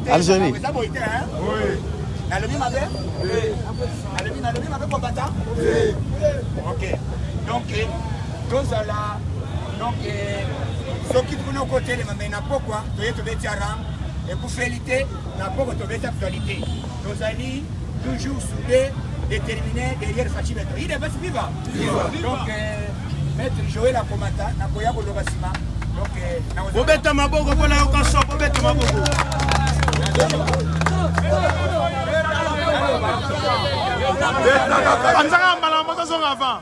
Algérie. nalobi mabe nalobi nalobi mabe kobata ok donc tozala donc soki kuna okotelema mai na pokwa toye tobeti aram ekufeli te na poko tobeti actualité Tozali toujours soudé déterminé derrière Fatshi Beton. Il est basi viva. Donc euh, maître Joël Akomata na koya ko loba sima. Donc euh, na ko beta maboko pona yo ka so beta maboko. Anzaka mbala moto zonga avant.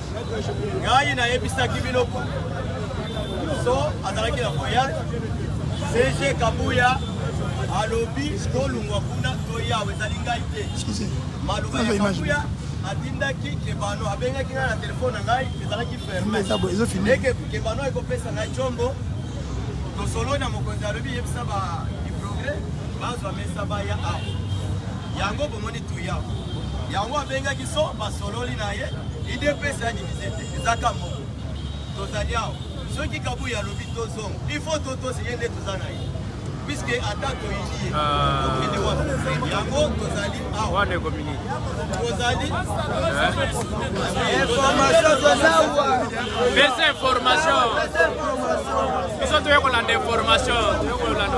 ngai nayebisaki bino so azalaki na voyage cg kabuya alobi tolungwa kuna toyawa ezali ngai te maloba ya kabuya atindaki kebano abengaki ngai na telefone na ngai ezalaki fermeke kebano ekopesa ngai combo tosolo na mokonzi alobi yebisa ba diprogre bazwa mesa baya awa yango bomoni tuya yango abengaki so basololi na ye Udps ya divise te eza ka moko tozali awa soki kabuyi alobi tozonga il faut totosi ye nde toza na ye puiske ata toyini ye ah. tokende wana yango tozali awa tozali pesa information biso toye kolanda information toye kolanda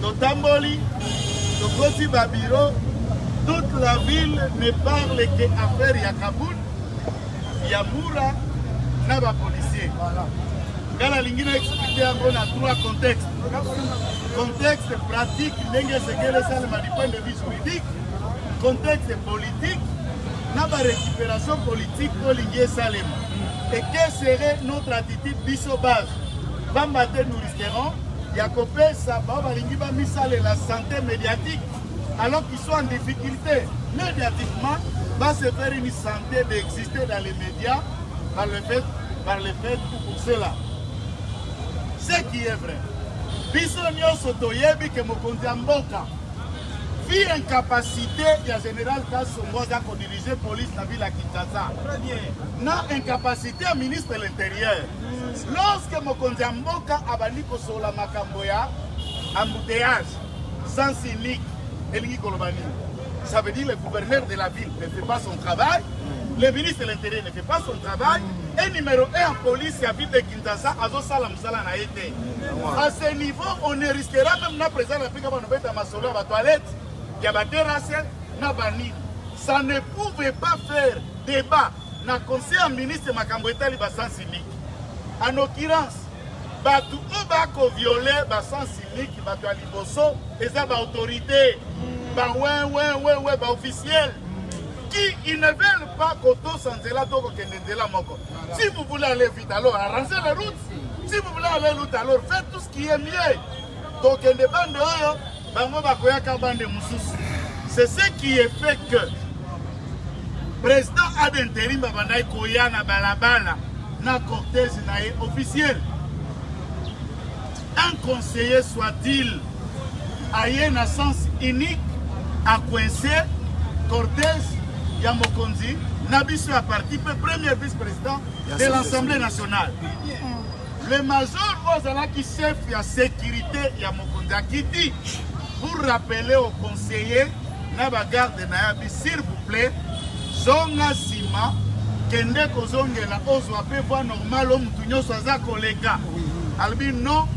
Totamboli, tokoti ba bureau, toute la ville ne parle que affaire ya Kabul, ya Mura na ba policiers. Nga nalingi na explique yango na trois contexte. Contexte pratique ndenge esekeli esalema du point de vue juridique, contexte politique na ba récupération politique olingi esalema. Et quelle serait notre attitude biso base? Bamba te nous terrain ya kopesa bao balingi bamisalela sante médiatique alors qu'ils sont en difficulté médiatiquement va se faire une santé d'exister dans les médias par le fait, par le fait pour cela ce qui est vrai biso nyonso toyebi ke mokonzi ya mboka vi incapacité ya général kasongo aza kodirige police na ville ya kinshasa na incapacité ya ministre de l'intérieur Lorsque mokonzi ya mboka abandi kosolola makambo ya embouteillage sans unique elingi koloba nini? Ça veut dire le gouverneur de la ville ne fait pas son travail, le ministre de l'intérieur ne fait pas son travail et numéro 1 en police ya ville de Kinshasa azosala mosala na ye te. À ce niveau, on ne risquera même na président na Afrika banobeta masolo ya ba toilettes ya ba terrasses na banini. Ça ne pouvait pas faire débat Na conseil ya ministre makambo etali ba sens unique en occurrence bato oyo bakoviole basens unique bato ya liboso eza baautorité bawewewewe baofficiele qui ils ne veulent pas kotosa nzela to kokende nzela moko si vous voulez aller vite alors arranger la route si vous voulez aller route alors faites tout ce qui est mieux tokende bande oyo bango bakoyaka bande mosusu c'est ce qui est fait que président ad interim babandaki koya na balabala na cortège na ye officiel un conseiller soit-il aye na sens unique akoinse cortège ya mokonzi na biso ya parti mpe premier vice-président de l'assemblée nationale Le major oyo azalaki chef ya securite ya mokonzi akiti pour rappeler au conseiller na bagarde na yabi s'il vous plaît zonga nsima kende kozongela ozwa mpe voi normal o motu nyonso aza koleka alobi non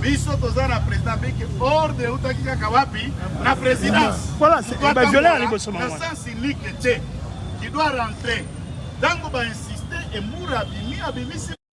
biso toza na président biki ordre eutaki kaka wapi na présidencesens unique te qui doit rentrer ntango bainsiste emura abimi abimisi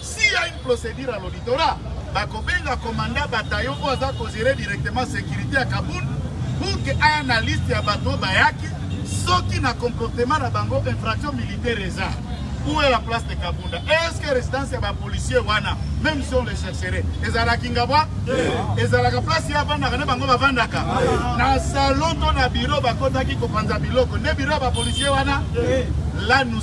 S'il y a une procedure à l'auditorat, bakobenga commandant bataillon oyo aza kozere directement sécurité ya Kabul pour que aya na liste ya bato bayaki soki na comportement na bango infraction militaire eza où est la place de Kabunda est-ce que résidence ya bapolicier wana même si on le chercherait ezalaka ingabwa ezalaka place ya avandaka nde bango bavandaka na salon to na biro bakotaki kopanza biloko nde biro ya bapolicier wana la nous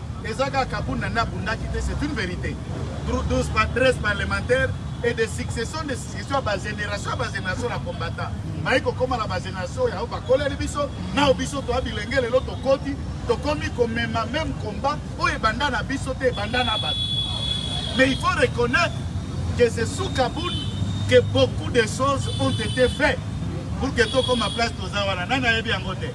Eza kaka kabunda nde abundaki te, c'est une verite. 12 par 13 parlementaires et des successions des successions ya bagénération ya bagénération na combattant bayi kokóma na bagénération yango bakoleli biso nao biso toya bilenge lelo tokoti tokomi komema même combat oyo ebanda na biso te ebanda na bato mais il faut reconnaître que c'est sous Kaboul que beaucoup de choses ont été faites pour que tokoma place toza wana nani ayebi yango te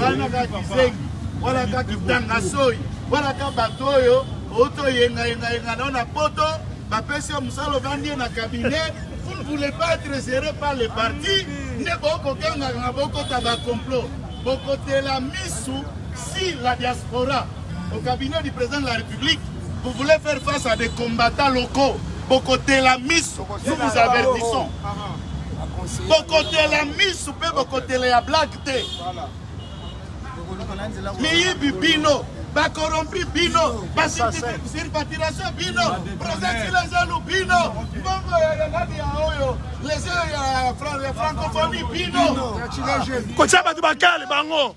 wanaka kizengi wanaka kitanga soyi wanaka bato oyo outi oyengayengayenga nao na poto bapesi yo mosala ovandi ye na kabinet vous ne voulez pas être géré par le parti nde bokokengaka na bokota bacomplot bokotela misu si la diaspora au cabinet du président de la république vous voulez faire face à des combattants locaux bokotela misu nous vous avertissons bokotela misu mpe bokotela ya blage te miyibi bino bakorompi bino basirpatiration bino prosetilezelu bino mbongo ya nani ya oyo lese ya francophonie bino kotya bato bakale bango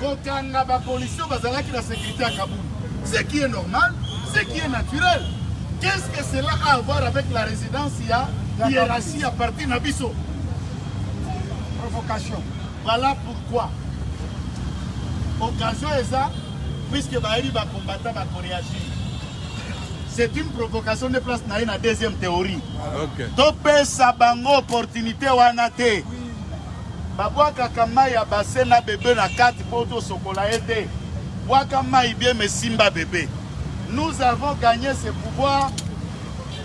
Kokanga ba policiers bazalaki na securite ya Kabund. Ce qui est normal, ce qui est naturel. Qu'est-ce que cela a à voir avec la résidence ya hiérarchie ya parti na biso? Provocation. Voilà pourquoi occasion eza puisque bayebi bakombata bakoreagir c'est une provocation de place na ye na deuxième théorie okay. topesa bango opportunité wana te babwakaka mai ya base na bebe na kati mpo tosokola ye te bwaka mai bie mesimba bebe nous avons gagné ce pouvoir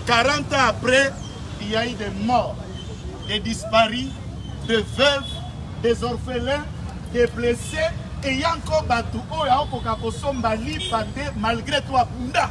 40 ans après il y a eu des morts des disparus des veuves des orphelins des blessés eya nko bato oyo aokoka kosomba lipa te malgré to abunda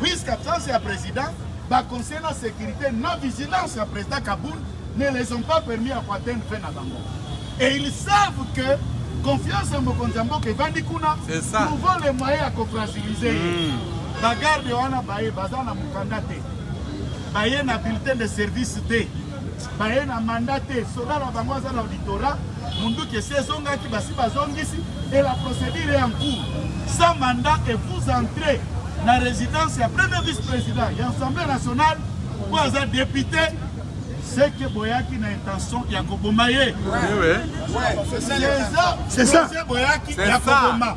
Puisque absence ya président, ba conseil na sécurité na vigilance ya président Kaboul ne les ont pas permis ya koatteindre fin na bango. Et ils savent que confiance ya mokonzi ya mboka evandi kuna trouva le moyen ya kofragilize ye hmm. bagarde wana baye baza na mokanda te baye na bulletin de service te baye na mandat te soda na bango aza na auditora munduki esi ezongaki basi bazongisi et la procédure est en cours sans mandat et vous entrez na résidence ya premier vice-président ya assemblée nationale oyo aza député seke boyaki na intention ya koboma ye c'est ça boyaki ya koboma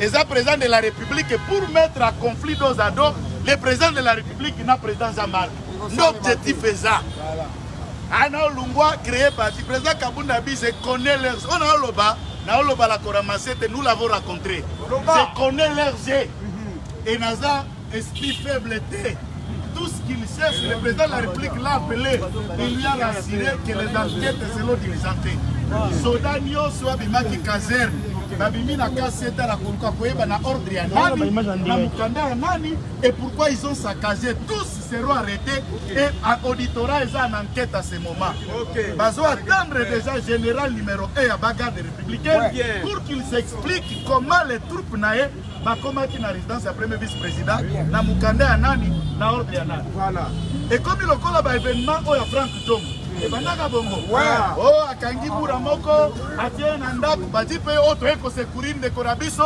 eza president de la republique pour mettre à conflit dos à dos le president de la republique na president zamar nde objectif eza ana olungwa créer parti president kabunda bi je connais leurs oyo naoloba naoloba la koramase te nous l'avons rencontré je connais leurs et naza Esprit faible te. Tout ce qu'il cherche, le président de la République l'a appelé. Il lui a rassuré que les enquêtes selon diligenté. Soda nyonso abimaki caserne babimi na kasi ete na koluka koyeba na ordre ya nani na mokanda ya nani et pourquoi ils ont saccagé tous seront arrêtés et à auditorat eza en enquête à ce moment okay. bazo attendre déjà général numéro 1 ya bagarde républicaine pour qu'il s'explique comment les troupes na ye bakomaki na residence ya premier vice président na mokanda ya nani na ordre ya nani voilà ekomi lokola ba événement oyo ya Frank Tongo ebandaka bongo o oh, akangi bura moko atie na ndako badi mpe oyo oh, toyei kosekurir ndeko na biso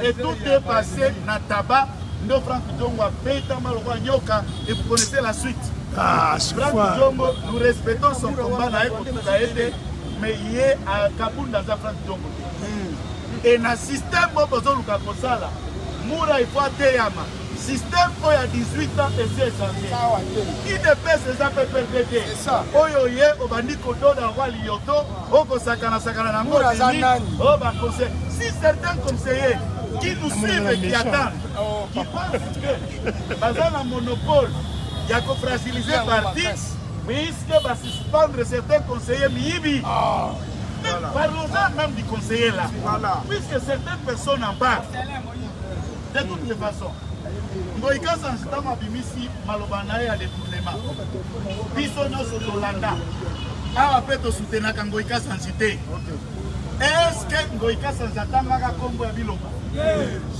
etout est passé na taba ndo Frank Tongo abetama lokola nyoka et vous connaissez la suite ah, Frank Tongo nous respectons son combat na ye kotuka ye te mais ye akabunda aza Frank Tongo e na systeme oyo bozoluka kosala mura ifo ateyama systeme oyo ya 18 ans esi echange idps eza mpe perde te oyo ye obandi kododa roi liyoto okosakanasakana na yango dini oyo baconseil si certain conseiller qui nous suivent et qui attendent oh. qui pensent que baza na monopole ya kofragiliser parti puisque basuspendre certains conseillers miyibi ah. Parlons-en même du conseiller là. Voilà. Puisque certaines personnes en parlent. De toutes les façons. Ngoyi Kasa ntango abimisi maloba na ye ya détournement biso nyonso tolanda awa mpe tosutenaka Ngoyi Kasanzi te eske Ngoyi Kasanzi atangaka nkombo ya biloba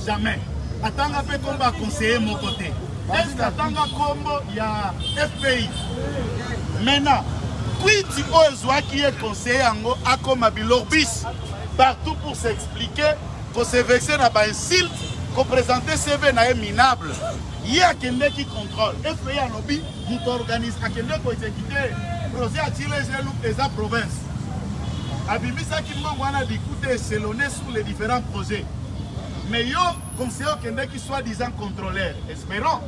Jamais. Atanga pe kombo ya conseiller moko te. Est-ce que atanga kombo ya FPI? Maintenant, kwiti oyo ezwaki ye conseiller yango akoma bilorbis partout pour s'expliquer, ko se vexer na ba insultes, ko présenter CV na ye minable. Ye akendeki contrôle. FPI alobi moto organise akende ko exécuter projet ya Chile eza province. abimisaki mbongo wana likuta eselone sur les différents projets mais yo conseiller okendeki soit disant contrôleur espérant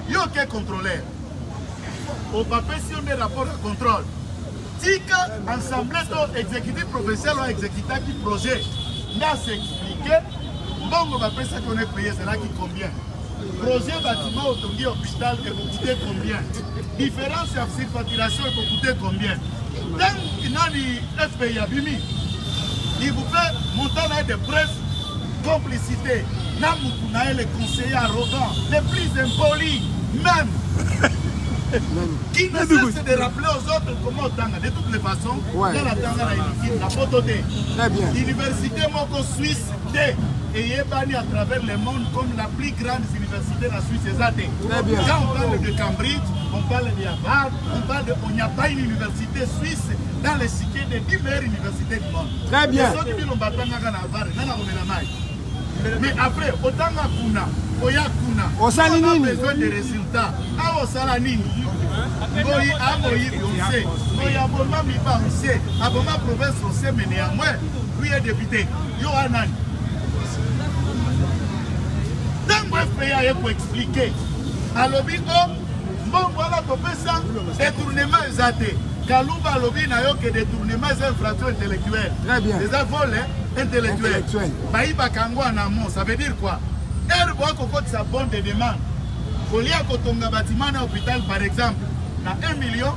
yo oke contrôleur obapesi yo nde rapport ya contrôle tika ensemble to exécutif provincial oyo exécutaki projet nde asexplike mbongo bapesaki ona epaye ezalaki combien Projet bâtiment otongi hôpital ekokute combien? Différence ya surfacturation ekokute combien? Ntango nani FPI abimi il vous fait montant na ye de presse complicité na mutu na ye le conseiller arrogant le plus impoli même qui ne cesse de rappeler aux autres comment otanga de toutes les façons nga natanga na eliki na poto te université moko suisse te eyebani à travers le monde comme la plus grande université na Suisse eza te quand on parle de Cambridge on parle de Harvard on parle de on n'y a pas une université suisse dans les cités des 10 meilleures universités du monde très bien soki bino batangaka na Harvard nga na komela mai mais après otanga kuna oya kuna osali nini besoin de résultats awa osala nini ngoyi amoyi ose ngoyi aboma miba ose aboma province ose mene ya mwe Priye depute, yo wana nani? Ntango FPA ye koexplike alobi o oh, mbongo wana kopesa detournement eza te. Kaluba alobi na yo ke detournement eza infraction intellectuelle. Très bien. Eza vole intellectuel. Bayibaka yango en amont, ça veut dire quoi? Heure boa kokotisa bonne de demande kolia kotonga batima na hôpital par exemple na 1 million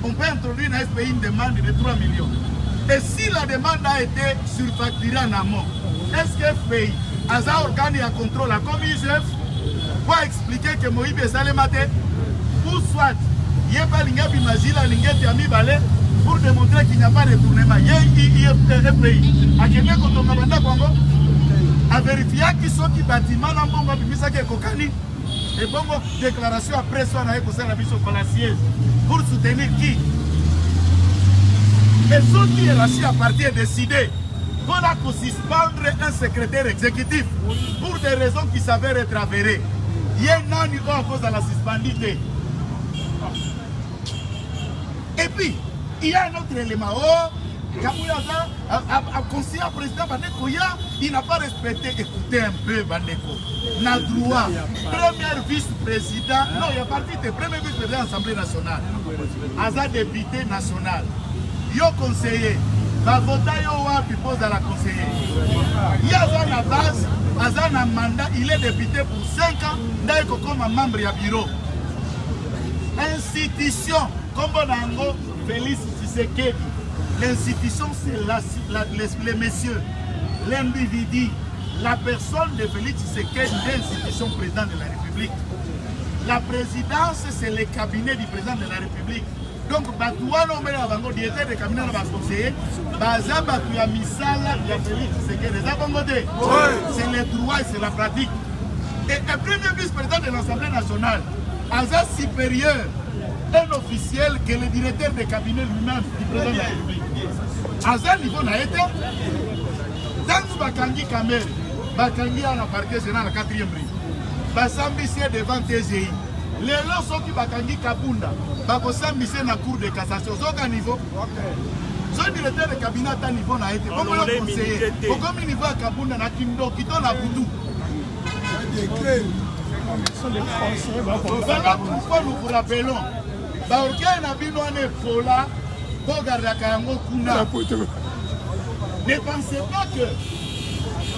On peut introduire na FPI une demande de 3 millions. Et si la demande a été surfacturée en amont, est-ce que FPI aza organe ya contrôle ya comme IGF po expliquer ke moyibi esalema te ou soit ye mpe alingi abima zile alingi ete ya mibale pour démontrer qu'il n'y a pas de tournement ye IFPI akende kotonga bandako yango averifiaki soki batima na mbongo abimisaki ekokani Ebongo declaration après presse wana ekosala biso fallaciese pour soutenir qui mais soki hiérarchie ya parti est décidé mpona kosuspendre un secrétaire exécutif pour des raisons qui s'avèrent être avérées ye nani oyo akozala suspendi te et puis il y a un autre élément oh kabuya aza a conseiller à président Baneko ya il n'a pas respecté écoutez un peu Baneko na droit première vice président non il y a pas vite premier vice président assemblée nationale aza député national yo conseiller bavota yo wapi mpo ozala conseiller ye aza na base aza na mandat il est député pour 5 ans ndai kokoma membre ya bureau institution nkombo na yango Felix Tshisekedi, l'institution c'est la, la, les, les messieurs, l'individu, la personne de Felix Tshisekedi, l'institution président de la République. La présidence c'est le cabinet du président de la République. donc bato wana omele na bango directeur de cabinet na baconseiller baza bato ya misala ya félix sekele eza bongo te c'est le droit et c'est la pratique et un premier vice président de l'assemblée nationale aza supérieur un officiel que le directeur de cabinet lui-même du président de la République aza niveau na ye te ntango bakangi kamere bakangi ya na parquet général na 4e ri basambisi ye devant tgi lelo soki bakangi kabunda bakosambisi ye na cour de cassation ozoka niveau soki directeur de cabinet ata niveau na ye te okomi niveau ya kabunda na kindoki to na butu Baba pourquoi nous vous rappelons ba orgueil na bino wana epola bogardaka yango kuna ne pensez pas que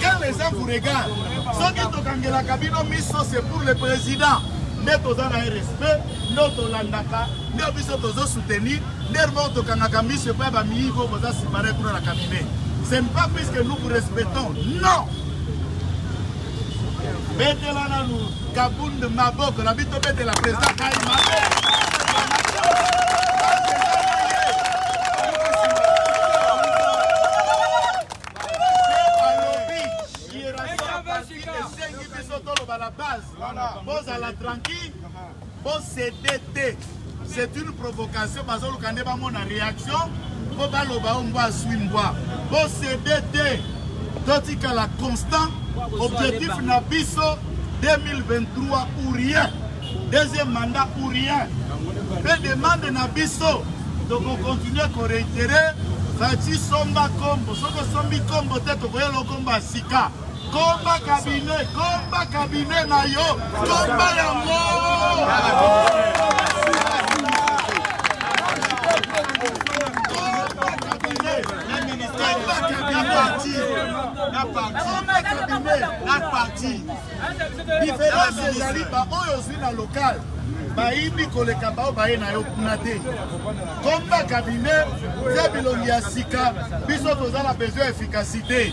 quand les gens vous regardent soki tokangelaka bino miso c'est pour le président nde toza na ye respect nde tolandaka nde biso tozo soutenir nde moko tokangaka miso epai bamiyigo boza sipare kuna na cabinet c'est pas puisque nous vous respectons non betela nanu kabund maboko na bito betela president kai mabe esengi biso toloba na base bozala tranquille Bo cede te. C'est une provocation bazoluka nde bamona reaction mpo baloba o mbwa aswi mbwa. Bo cede te. Totikala constant. Objectif na biso 2023 ou rien. Deuxième mandat ou rien. Mpe demande na biso tokokontinue koreitere fati somba kombo soki osombi kombo te tokoyela okombo ya sika Komba cabinet, komba cabinet na yo, komba yango. na parti diference ezali baoyo ozwi na lokale bayibi koleka bao baye na yo kuna te komba kabine tia bilongi ya sika biso toza na besoin ya efikasité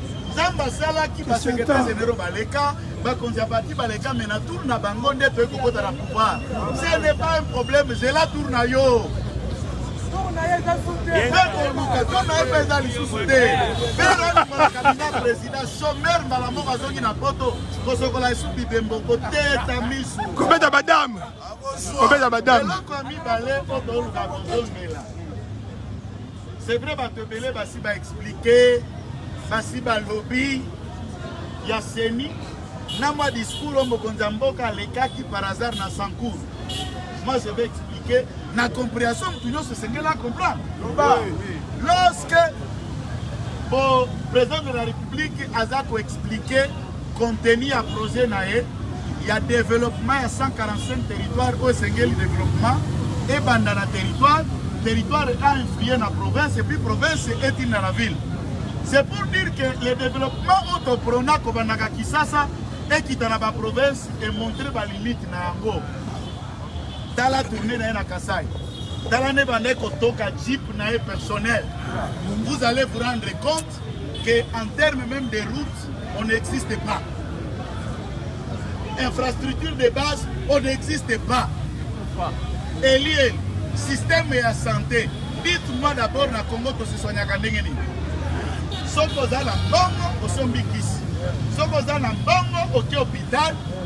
nzambe asalaki basecretaire généraux baleka bakonzi ya parti baleka me na tour na bango nde toyei kokota na pouvoir ce n'est pas un problème zela tour na yo ekoluka to na ye mpe eza lisusu te pereaakabina président sommaire mbala moko azongi na poto kosokola esuki bembo koteta misu kobeta badame kobeta badame c'est vrai bato ebele basi baexplike basi balobi ya seni na mwa discours oyo mokonzi ya mboka alekaki par hasard na sancour moi je vais expliquer na comprehension motu nyonso esengeli acomprendre lorsque bo président de la république aza koexplike Contenu ya projet na ye ya developpement ya 145 territoire oyo esengeli developpement ebanda na territoire, territoire a influye na province epuis province etinda na ville. C'est pour dire que le développement oto prona kobandaka Kisasa ekita na baprovince emontre balimite na yango tala tourne na ye na kasai tala nde banda ekotoka jeep na ye personnel vous allez vous rendre compte que en terme même de route on n'existe pas infrastructure de base on n'existe pas elie système ya santé dites-moi d'abord na congo tosesoignaka ndenge nini soki oza na mbongo osombi kisi soki oza na mbongo oke hôpital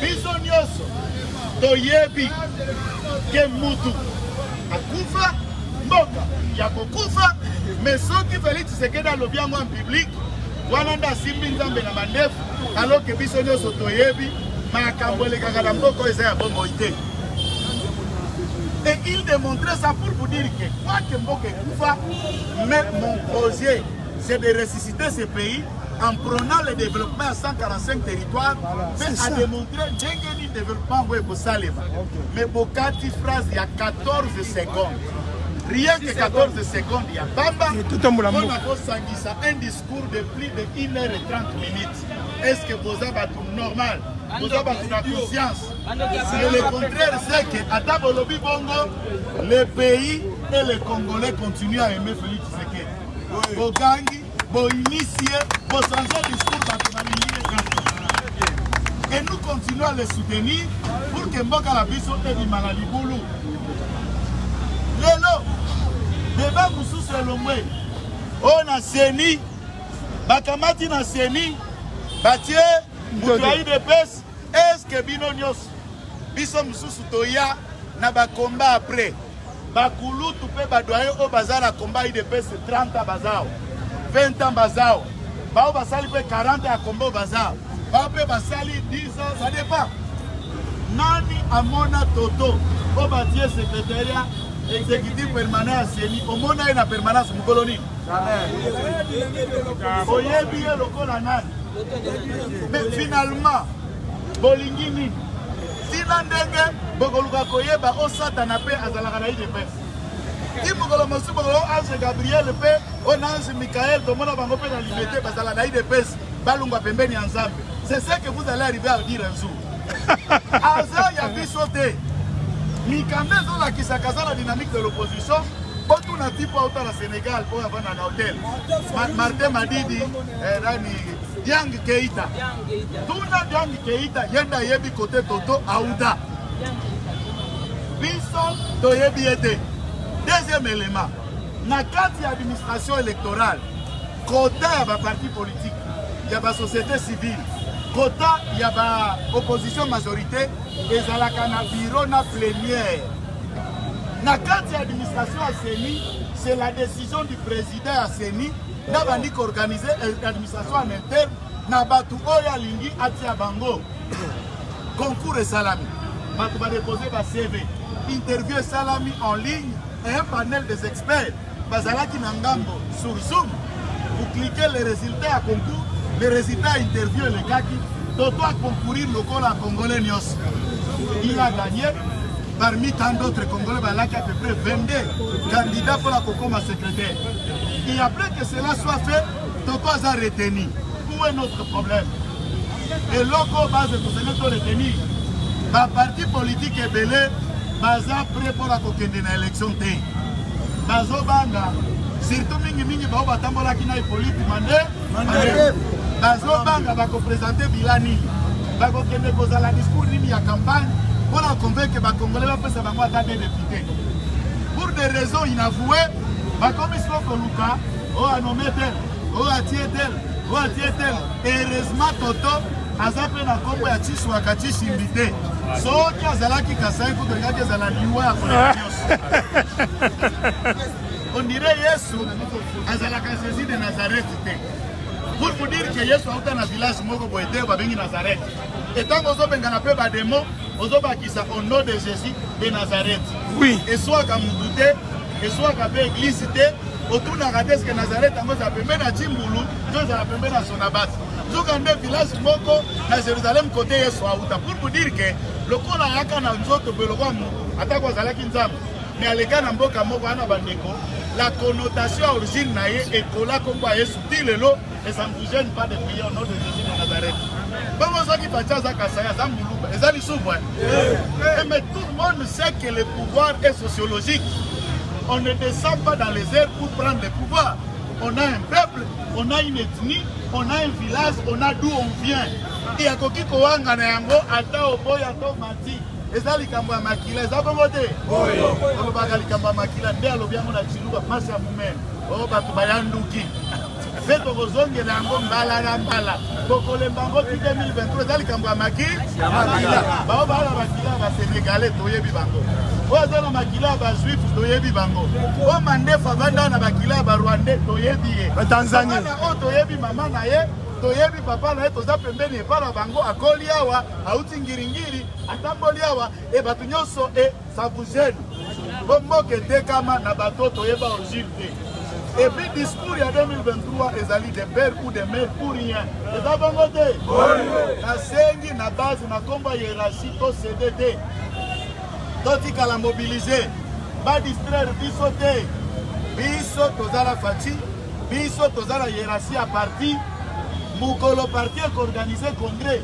biso nyonso toyebi ke mutu akufa mboka ya kokufa me soki felix tshisekedi alobi yango en public wana nde asimbi nzambe na mandefu aloke biso nyonso toyebi makambo elekaka na mboka oyo eza ya bomoi te et il démontrait ça pour vous dire que quoique mboka ekufa mais mon projet c'est de ressusciter ce pays en prenant le développement à 145 territoires mpe voilà, a démontré ndenge nini développement yango ekosalema mais bokati phrase ya 14 secondes rien que 14 secondes ya pamba mpona kosangisa un discours de plus de 1 heure et 30 minutes est ce que boza bato normal boza bato na conscience mais le contraire c'est que ata bolobi bongo le pays et le congolais continue à aimer félix bogangi boyinisi ye bochange discour bato balingi ye kaka et nous continuons à le soutenir pour que mboka na biso ebima na libulu lelo deba mosusu elongwe oyo na seni bakamati na seni batie moto ya idps eske bino nyonso biso mususu toya na ba combat après bakulutu mpe badoye oyo baza na combat idps 30 bazao 20 ans bazao bao basali mpe 40 ya combat bazao bao mpe basali 10 ans ça dépend nani amona toto oyo batie secrétariat exécutif permanent ya seni omona ye na permanence mokolo nini oyebi ye lokola nani mais finalement Bolingi nini? Tina ndenge bokoluka koyeba o Satana mpe azalaka na UDPS. Ti mokolo mosusu bokolo ange Gabriel mpe o na ange Michael tomona bango mpe na limete bazala na UDPS balungwa pembeni ya Nzambe. C'est ce que vous allez arriver à dire un jour. Aza ya biso te. Mikanda ezolakisa kaza na dynamique de l'opposition botuna ti mpo auta na Sénégal oyo avanda na hotel Martin Madidi eh, nani Yang Keita Tuna Diane Keita yenda ayebi kote Toto auta. Biso toyebi ye te. Deuxième élément, na kati ya administration électorale, kota ya ba parti politique, ya ba société civile, kota ya ba opposition majorité ezalaka na bureau na plénière. Na kati ya administration ya CENI, c'est la décision du président ya CENI nabandi koorganize eh, administration en interne na bato oyo alingi atia bango concours esalami bato badepose ba cv interview esalami en ligne et un panel des experts bazalaki na ngambo sur zoom vous cliquez les résultats ya concours les résultats ya interview elekaki toto akoncourir lokola congolais nyonso il a gagné parmi tant d'autres congolais balaki à peu près 22 candidats mpo na kokoma secrétaire et après que cela soit fait Toko aza retenu. Où est notre problème? Eloko base tosenge to retenu. Ba parti politique ebele baza prêt mpo na kokende na élection te. Bazobanga surtout mingi mingi bao batambolaki na Hippolyte Mande. Bazobanga bakopresente bila nini? Bakokende kozala discours nini ya campagne mpo na convaincre bakongole bapesa bango ata de député. Pour des raisons inavouées, bakomi soko koluka oyo anome tel oyo atie tel oyo atie tel heureusement toto aza mpe na nkombo ya chiswaka chishimbi te soki azalaki kasai kutu olingaki ezala liwa ya koleka nyonso ondire yesu azalaka jesus de nazareth te pour vous dire que yesu auta na village moko boye te babengi nazareth Et tant qu'on bengana pe ba démon, ozo bakisa au nom de Jésus de Nazareth. Oui. Et soit ka mudute, et soit ka pe église te, otunaka te eske Nazareth yango za pembe na Timbulu, to za pembe na Sonabat. Zuka nde village moko na Jérusalem côté Yesu auta. Pour vous dire que lokola yaka na nzoto pe lokola atako azalaki Nzambe, mais aleka na mboka moko ana bandeko, la connotation origine na ye ekola kombo ya Yesu ti lelo Et ça ne vous gêne pas de prier au nom de Jésus de Nazareth. Bongo soki Fatshi aza Kasai, aza Muluba, eza lisubu. Eh, mais tout le monde sait que le pouvoir est sociologique. On ne descend pas dans les airs pour prendre le pouvoir. On a un peuple, on a une ethnie, on a un village, on a d'où on vient. Et akoki kowanga na yango ata oboya to mati. eza likambo ya makila eza bongo te olobaka likambo ya makila nde alobi yango na ciluba mpasi ya momene o oh, bato bayanduki mpe tokozongela yango mbala na mbala tokolemba yango ti 2023 eza likambo ya maki ya makila bao baa na makila ya basenegale toyebi bango oyo aza na makila ya bajuif toyebi bango oyo mandefu avanda na bakila ya barwandais toyebi ye batanzania oyo toyebi mama na ye toyebi papa na ye toza pembeni epai na bango akoli awa auti ngiringiri atamboli awa e bato nyonso e Ça vous gêne? Bo mboka etekama na bato toyeba origine te. Et puis discours ya 2023 ezali de père ou de mère pour rien. Eza bongo te? Nasengi na base na kombo ya hiérarchie to cede te. Totikala mobiliser. Ba distraire biso te. Biso toza na Fatshi, biso toza na hiérarchie ya parti. Mokolo parti ekoorganize congrès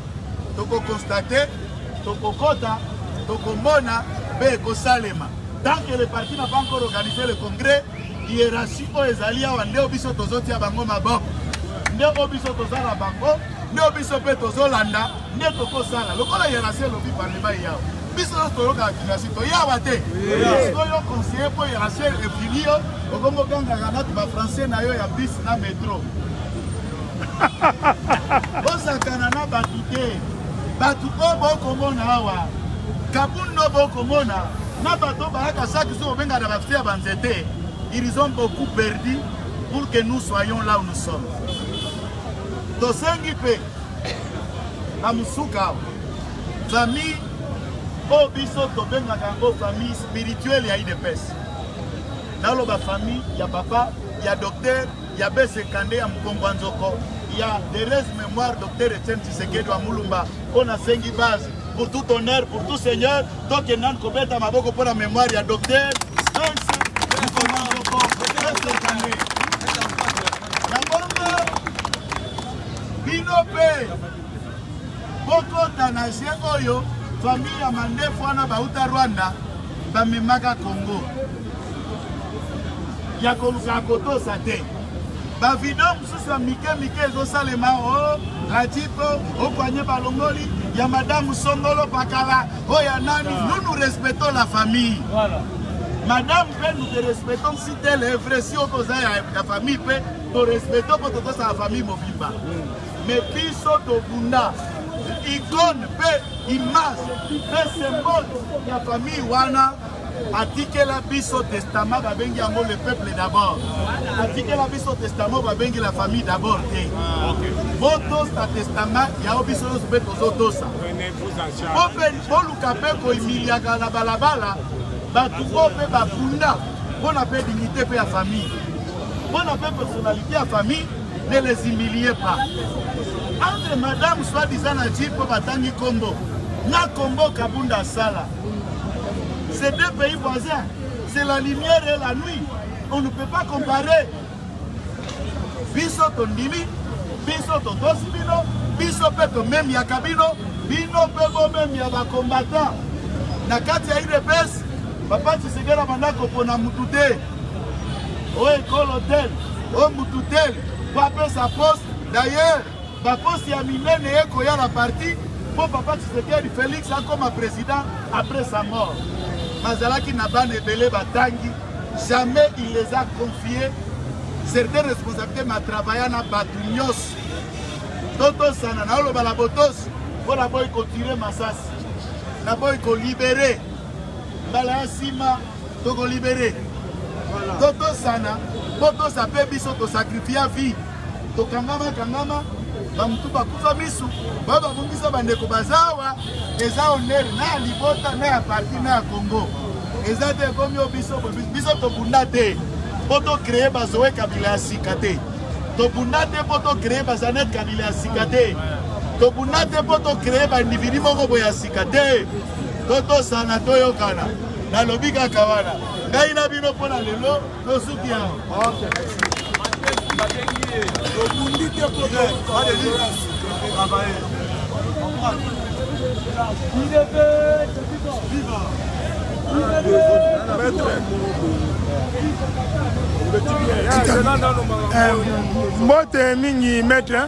tokokonstate Tokokota, tokomona mpe ekosalema. Tant que le parti n'a pas encore organisé le congrès, hiérarchie oyo ezali awa nde oyo biso tozotia bango maboko, nde oyo biso toza na bango, nde oyo biso mpe tozolanda, nde tokosala lokola hiérarchie elobi parlement eyawa biso nyonso toyokaka kinasi toyawa te sikoyo conseiller mpo hiérarchie efini yo okomokangaka natu bafrançais na yo ya bus na metro bosakana na bato te bato oyo bokomona awa kabundo bokomona na bato bayaka saki soki obenga na bafia banzete ils ont beaucoup perdu pour que nous soyons là où nous sommes tosengi mpe na mosuka awa famille oyo biso tobengaka yango famille spirituelle ya idps naloba famille ya papa ya docteur ya BCK nde ya mokongo ya nzoko ya Therese Memoire Docteur Etienne Tshisekedi wa Mulumba mpo nasengi base pour tout honneur pour tout seigneur tokende nanu kobeta maboko mpo na memoire ya Docteur bino mpe bokota na je oyo famille ya mandefu wana bauta Rwanda bamemaka Congo ya koluka kotosa te bavideo mosusu ya mike mike ezosalema o oh, radito okwanye oh, balongoli ya madamu songolo pakala oyo oh, ya nani nous nous respectons la famille voilà. madame mpe nous te respectons si tel est vrai si okoza ya, ya famille mpe torespecto mpo tokosala famille mobimba mais biso tobunda icone mpe image mpe symbole ya famille wana atikela biso testament babengi yango le peuple d'abord atikela biso testament babengi la famille d'abord te botosa testament yao biso nyonso mpe tozotosa boluka mpe koimiliaka na balabala bato oyo mpe bafunda mpo na mpe dignité mpe ya famille mpo na mpe personnalité ya famille ne les humilie pas entre madame soi-disant na ji mpo batangi nkombo na nkombo kabunda asala Ces deux pays voisins, c'est la lumière et la nuit. On ne peut pas comparer. Biso tondimi, biso totosi bino, biso mpe tomemyaka bino, bino mpe bomemya bakombata. Na kati ya udps, papa Tshisekedi abanda kopona mutu te, oyo ekolo tel, oyo mutu tel, po apesa poste. D'ailleurs, baposte ya minene ekoya na parti mpo papa tshisekedi félix akoma président après sa mort bazalaki na bana ebele batangi jamais il les a confie certaines responsabilités matravailla na bato nyonso totosana naoloba na botosi mpo naboyi kotire masasi naboyi kolibere mbala ya nsima toko libere totosana mpo tosa mpe biso tosakrifia vie tokangama kangama bamutu bakufa misu bayo babungisa bandeko bazawa eza onere na ya libota na ya parti na ya congo eza te ekomi yo biso biso tobunda te mpo tocreye bazoe kabila ya sika te tobunda te mpo tocreye bazanet kabila ya sika te tobunda te mpo tocreye baindividu moko boye ya sika te totosana toyokana nalobi kaka wana ngai na bino mpo na lelo tosuki yango tobundi te mpo mbote mingi maître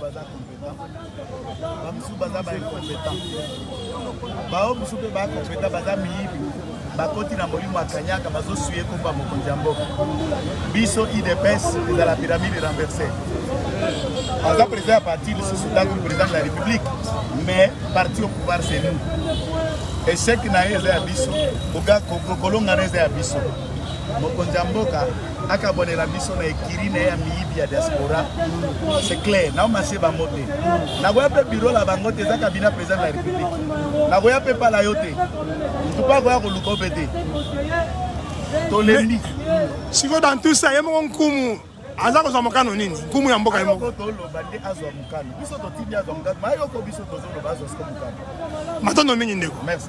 baza competent bamosusu baza baincompétent bao mosusu mpe bacompétent baza miyibi bakoti na molimo ya kanyaka bazosui ekomba mokonzi ya mboka biso idps ezala pyramide renverse aza président ya parti lisusu ntango président de la république mais parti au pouvoir c'est nous échec na ye eza ya biso kolongana eza ya biso mokonzi ya mboka akabonela biso na ekiri na ye ya miyibi ya diaspora c'est clair nao masie bango te nakoya mpe biro la bango te eza kabina président de la république nakoya mpe pala yo te ntupa akoya koluka mpe te tolembi sikoyo dans tout ça ye moko nkumu aza kozwa mokano nini nkumu ya mboka ye moko toloba nde azwa mokano biso totindi azwa mokano mayoko biso tozoloba azwa siko mokano matondo mingi ndeko merci